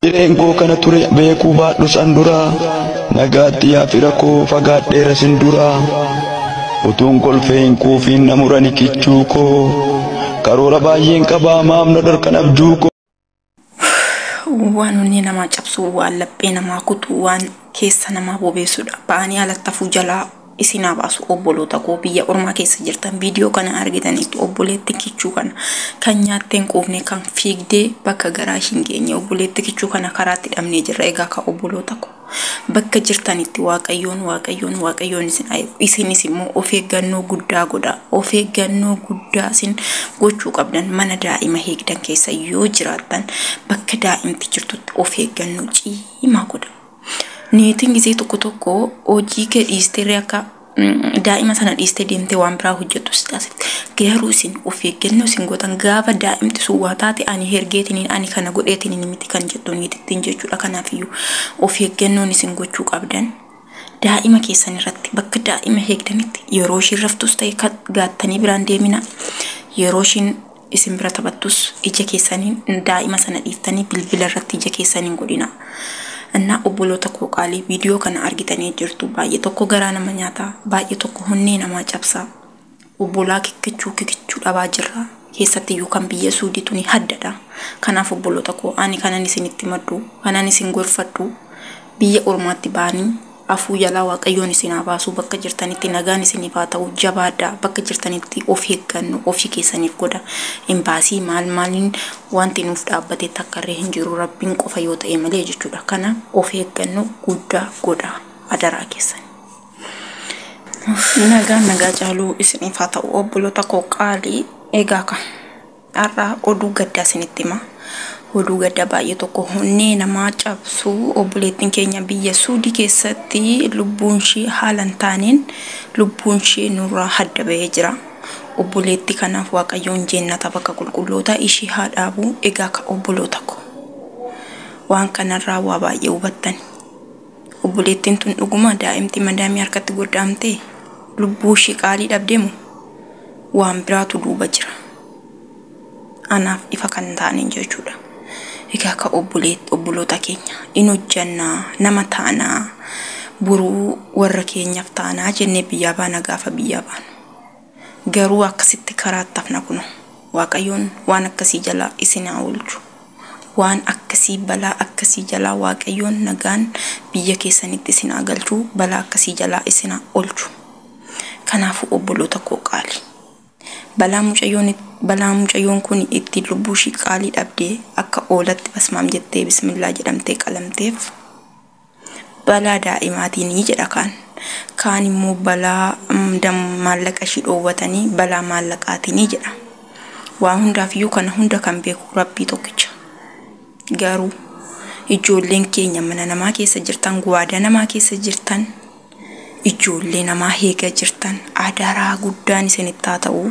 Hireen koo kana ture beekuu baadhus an dura nagaatti yaa fira koo fagaadheera sin dura utuun kolfee hin quufiin na murani kichuu koo karoora baay'een qabaa maaf na dhorkan abjuu koo. waan onnee namaa cabsu waan laphee namaa kutu waan keessa namaa bobeessudha ba'anii alattafuu jalaa isin haa baasu obboloota koo biyya ormaa keessa jirtan viidiyoo kana argitanitti obboleetti kichuu kana kan nyaattee hin quufne kan fiigdee bakka garaa ishiin geenye obboleetti kichuu kana karaatti dhabnee jirra egaa ka obboloota koo bakka jirtanitti waaqayyoon waaqayyoon waaqayyoon isin ayu isinis immoo of eeggannoo guddaa godha of eeggannoo guddaa isin gochuu qabdan mana daa'ima heegdan keessa yoo jiraattan bakka daa'imti jirtutti of eeggannoo ciimaa godha. Niitiin gisee tokko tokko hojii kee dhiisteerree akka daa'ima sana dhiistee deemtee waan biraa hojjettu si taasifte. Garuu isin of eeggannoo isin gootan gaafa daa'imti sun waa taate ani hergeetiniin ani kana godheetiniin miti kan jettu niitittiin jechuudha. Kanaafiyyuu of eeggannoon isin gochuu qabdan daa'ima keessan irratti bakka daa'ima eegdanitti yeroo ishiin raftus ta'e gattanii biraan deemina yeroo ishiin isin bira taphattus ija keessaniin daa'ima sana dhiiftanii bilbila irratti ija keessan hin godhinaa. Innaa obboloota koo qaalii viidiyoo kana argitanii jirtu baay'ee tokko garaa nama nyaata baay'ee tokko honnee namaa cabsa. Obbolaa kikkichuu kikichuu dhabaa jirra keessatti iyyuu kan biyya suudii tuni haddadha. Kanaaf obboloota koo ani kanan isinitti maddu kanan isin gorfadhu biyya ormaatti ba'anii Afuu jalaa waaqayyoon isin haa baasuu bakka jirtanitti nagaan isiniif haa ta'uu jabaadhaa bakka jirtanitti of eegganno ofii keessaniif godha imbaasii maal maaliin wanti nuuf dhaabbate takkarree hin jiru rabbiin qofa yoo ta'e malee jechuudha kana of eegganno guddaa godha adaraa keessan. Nagaan nagaa caaluu isiniif haa ta'u obboloota koo qaalii egaa ka. Har'a oduu gaddaa isinitti hima. Oduu gaddaa baay'ee tokko honnee namaa cabsu obboleettiin keenya biyya Suudii keessatti lubbuun ishee haala hin taaneen lubbuun ishee nurraa hadda bahee jira. Obboleettii kanaaf Waaqayyoon jeennata bakka qulqullootaa ishee haa dhaabu. Egaa ka obboloota ko waan kanarraa waa baay'ee hubattan. Obboleettiin tun dhuguma daa'imti madaamii harkatti godda'amtee lubbuu ishii qaalii dhabdee moo waan biraatu duuba jira? Anaaf ifa kan hin taane hin jiru jechuudha. Egaa akka obboleet- obboloota keenya in hojjannaa, nama taanaa, boruu warra keenyaaf taanaa jennee biyyaa baana gaafa biyyaa baanu. Garuu akkasitti karaatti hafna kuno. Waaqayyoon waan akkasii jalaa isin haa oolchu. Waan akkasii balaa akkasii jalaa waaqayyoon nagaan biyya keessanitti isin haa galchu balaa akkasii jalaa isin haa olchu. Kanaafuu obboloota koo qaali. Balaa mucayyoon balaa mucayyoon kun ittiin lubbuu ishii qaalii dhabdee akka oolatti basmaam jettee bismillaa jedhamtee qalamteef Balaa daa'imaatiini jedha kaan. Kaan immoo balaa maallaqa ishii dhoowwatanii balaa maallaqaatiini jedha. Waa hundaaf iyyuu kana hunda kan beeku rabbii tokkicha. Garuu ijoolleen keenya mana namaa keessa jirtan guwaadaa namaa keessa jirtan ijoollee namaa heega jirtan adaraa guddaan isinitti haa ta'u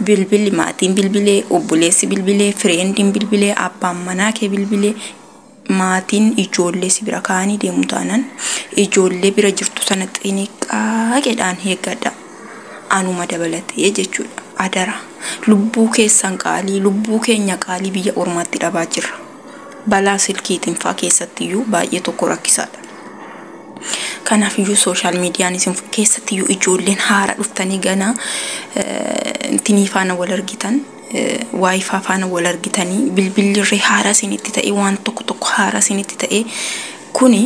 bilbili maatiin bilbilee obboleessi bilbilee fireendiin bilbilee abbaan manaa kee bilbilee maatiin ijoollee si bira kaa'anii deemu taanan ijoollee bira jirtu sana xiniqqaaqedhaan eeggadha. Anuma dabalatee jechuudha. Adara lubbuu keessan qaalii lubbuu keenya qaalii biyya ormaatti dhabaa jirra. Balaa silkiitiin faa keessatti iyyuu baay'ee tokko rakkisaadha. Kanaaf iyyuu sooshaal miidiyaan isin keessatti iyyuu ijoolleen haara dhuftanii ganaa intinii faana wal argitan waayifaa faana wal argitanii bilbilli irree haaraa isinitti ta'ee waan tokko tokko haaraa isinitti ta'ee kuni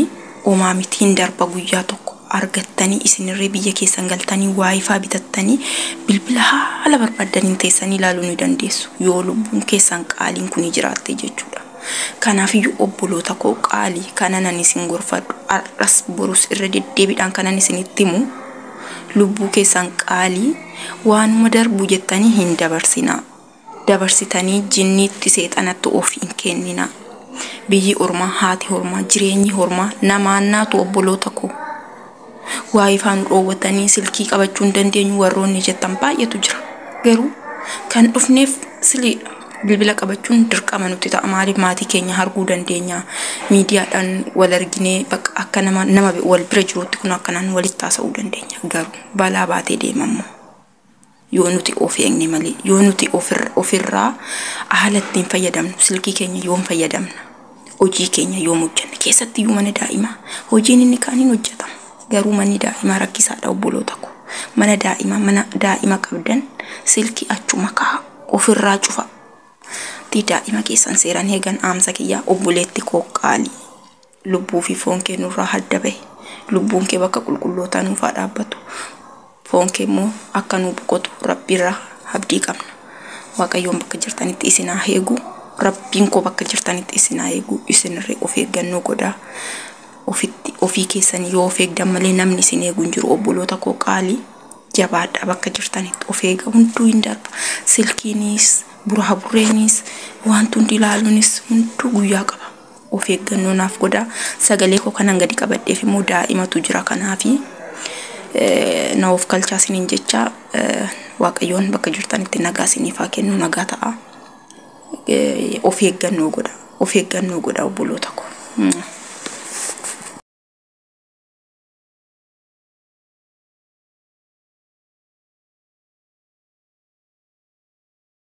omaa miti hin darba guyyaa tokko argattanii isinirree biyya keessan galtanii waayifaa bitattanii bilbila haala barbaaddaniin teessanii ilaaluu ni dandeessu yoo lubbuun keessan qaaliin kuni jiraatte jechuudha. Kanaafiyyuu obboloota koo qaalii kanan ani isin gorfadhu har'as borus irra deddeebiidhaan kanan isinitti himu lubbuu keessan qaalii waanuma darbu jettanii hin dabarsinaa dabarsitanii jinniitti seexanatti of hin kenninaa biyyi ormaa haati hormaa jireenyi hormaa namaannaatu obboloota koo waa ifaa nu dhoowwatanii silkii qabachuu hin dandeenyu warroonni jettan baay'eetu jira garuu kan dhufneef silii Bilbila qabachuun dirqama nutti ta'a. Maaliif maatii keenya arguu dandeenya. Miidiyaadhaan wal arginee bakka akka nama nama wal bira jiruutti kun akkanaan walitti haasa'uu dandeenya. Garuu balaa baatee deema immoo. Yoo nuti of eegne malee, yoo nuti ofir- ofirraa haala ittiin fayyadamnu, silkii keenya yoom fayyadamna? Hojii keenya yoom hojjanna? Keessattiyyuu mana daa'imaa hojiin inni kaan hin hojjatamu. Garuu manni daa'imaa rakkisaadha obboloota koo. Mana daa'imaa mana daa'ima qabdan silkii achuma kaa'aa ofirraa cufaa. Tii daa'ima keessan seeran eegan dhaamsa kiyyaa obboleetti koo qaalii. Lubbuu fi foon kee nurraa hadda bahe. Lubbuun kee bakka qulqullootaa nuuf haa dhaabbatu. Foon kee immoo akka nuu boqotu rabbiirra habdii qabna. Waaqayyoon bakka jirtanitti isin haa heegu. Rabbiin koo bakka jirtanitti isin haa eegu. Isinirree of eeggannoo godhaa. Ofitti ofii keessanii yoo of eegdan malee namni isin eegu hin jiru. Obboloota koo qaalii jabaadhaa bakka jirtanitti of eega hunduu hin darba. Silkiinis, buraaburreenis, wanti hundi ilaaluunis hunduu guyyaa qaba. Of eeggannoo naaf godhaa. Sagalee koo kanan gadi qabadheef immoo daa'imatu jira kanaafi na of kalchaa isiniin jecha Waaqayyoon bakka jirtanitti nagaa isiniif haa kennu nagaa ta'a. Of eeggannoo godha. Of eeggannoo godha obboloota koo.